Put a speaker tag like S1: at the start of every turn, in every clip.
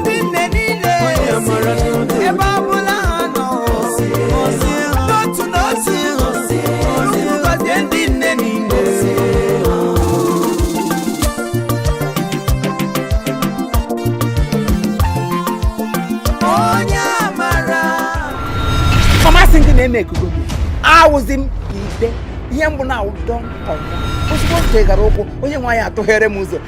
S1: ndị nne niile ebe ọ bụla ha nọ n'otu n'otu Chukwu gọzie ndị nne niile onye amara Famasị ndị na-eme ekugo gị awụzi m ide ihe mbụ na-awụ don come ozugbo m chegara ụkwụ onye nwe anyị atụghere m ụzọ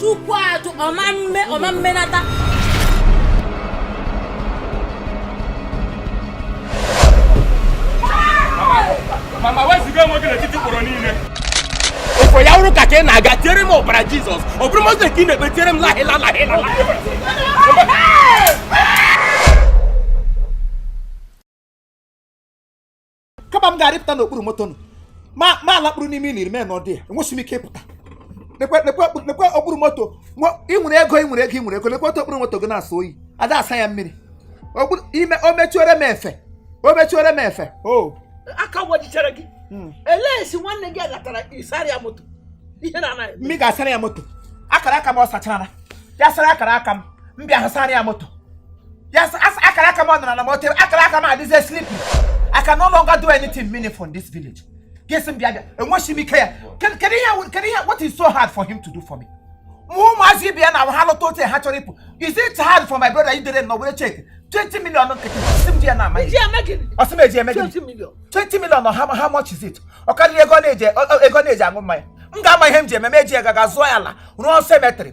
S1: chukwu
S2: ajụ ọ ma mme ọ ma mmenata mama
S3: wezuga onwe gị n'etiti ikporo niile ụfọ ya wụrụ ụka ka ị na-aga tiere m ọbara jizọs ọ bụrụ mosque ka ị na-ekpe tiere m lahịla lahịla lahịla
S1: kama m ga-arịpụta n'okpuru moto nụ ma m alakpuru n'ime ili remain there enwesị m ike ịpụta lekwe lekwe okpuru- lekwe okpuru moto nwa- ị nwere ego ị nwere ego ị nwere ego lekwe otu okpuru moto gị na-asọ oyi ada asa ya mmiri Okpuru- ime o mechuore m efe o mechuore m efe o aka
S4: wajichara gị Mm. elee si nwanne gị agatara ịsara ya moto ihe na
S1: anaghị eme. m ga-asara ya moto akara aka m ọ sachara ya sara akara aka m m bịa sara ya moto ya sị, "As- akara aka m ọ nọrọ na moto akara aka m adịzie sleepy I can no longer do anything meaningful in this village gị sị m bịa bịa enweghị m ike ya kedu kedu ihe wụ- kedu ihe what is so hard for him to do for me ma ụmụazị ibe ya na ha lụta otu ha chọrọ ịpụ is it hard for my brother idere nọ were cheque 20 million nkịtị si m di ya na amaghị ị ji eme gịnị? ọ sị m eji eme gịnị 20 million. 20 million ọ how, how much is it ọ karịrị ego na-eji ọ- ọ- ego na-eji aṅụ mmanya m ga-ama ihe m ji eme m eji ya gaga zụọ ya ala rụọ cemetery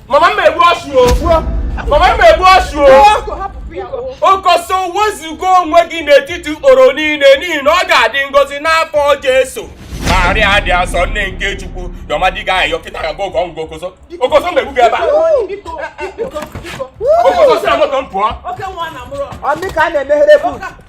S3: Mama m egbuo ọchụ o. Mama m egbuo ọchụ o. Okoso wezuga onwe gị n'etiti ikporo niile n'ihi na ọ ga-adị ngọzi nwa afọ Jesu. Maria dị asọ nne nke Chukwu yọ mmadụ gị ayọ kịta ga gogo ngụ okoso. Okoso m egbu gị ebe a. Okoso si na moto m pụọ.
S4: Ọ dị ka a na-emeghere
S1: bụ.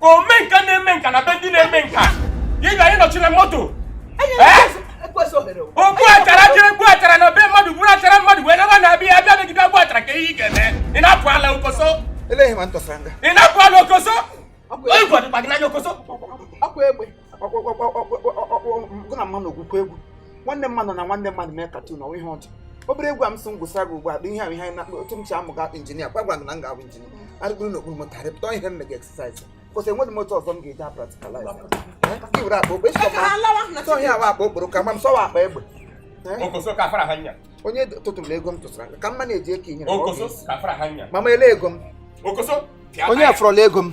S3: ome nka na-eme nka na be ndị na-eme nka ị ga-anọchiri m moto ogbu achara jere gbu achara na be mmadụ gburu achara mmadụ wee naba na-abịa abịa megide ogbu achara ka ihe ị ga-eme ị na-apụ ala okoso
S1: ị na-apụ ala okoso
S3: onye gwadịkwa gị n'anya okoso
S1: gị na mmanụ ogwukwa egwu nwanne mmadụ na nwanne mmadụ mee cartoon ọ wụ ihe ọjọọ obere egwu a m sị m gwusara gị ugbu a bụ ihe ahụ ihe anyị na-akpa otu m si amụga injinia kwa gwara gị na m ga-abụ injinia arịgoro na okpuru moto arịpụta ihe m mega exercise kwụsị enweghị moto ọzọ m ga-eji apracticalize ka iwere akpa okpe ịsọ ma sọ ihe awa akpa okporo kama m sọwa akpa egbe Okoso
S3: ka fara hanya. onye tụtụrụ ego
S1: m tụsara ka mma na-eji eke inyere m, ọ Okoso ga-esi. ka fara hanya.
S3: mama ele ego m
S1: Okoso. pịa
S3: onye taya. afọrọla
S1: ego m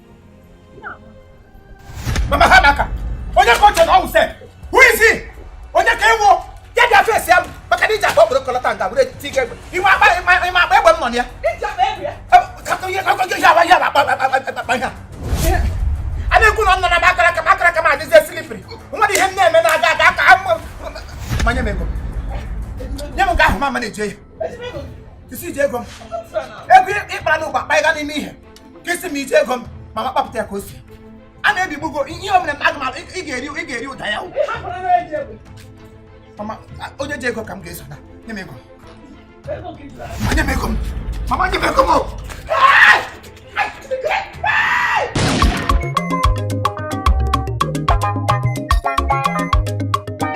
S1: mama amaka onye ka o che na ọ wụ sef who is he onye ka ị wụ ya bịa face ya maka na iji akpa obodo kọlọta nga were ti ga egbe ị ma agba ị ma agba egbe mmọ ya a na-ekwu na ọ nọ na akara aka m akara aka m adịzie slippery nwere ihe m na-eme na-aga aga aka ma nye m ego nye m nke ahụ mama na-eje ya isi ji ego m ego ị kpara n'ụgba kpa ịga n'ime ihe ka isi m iji ego m mama kpapụta ya ka o si a na-ebigbugo ihe ọ bụla mmadụ mara ị ga-eri ị ga-eri ụda ya mama onye ji ego ka m ga-eso na nye m ego ma nye m ego m mama nye m ego m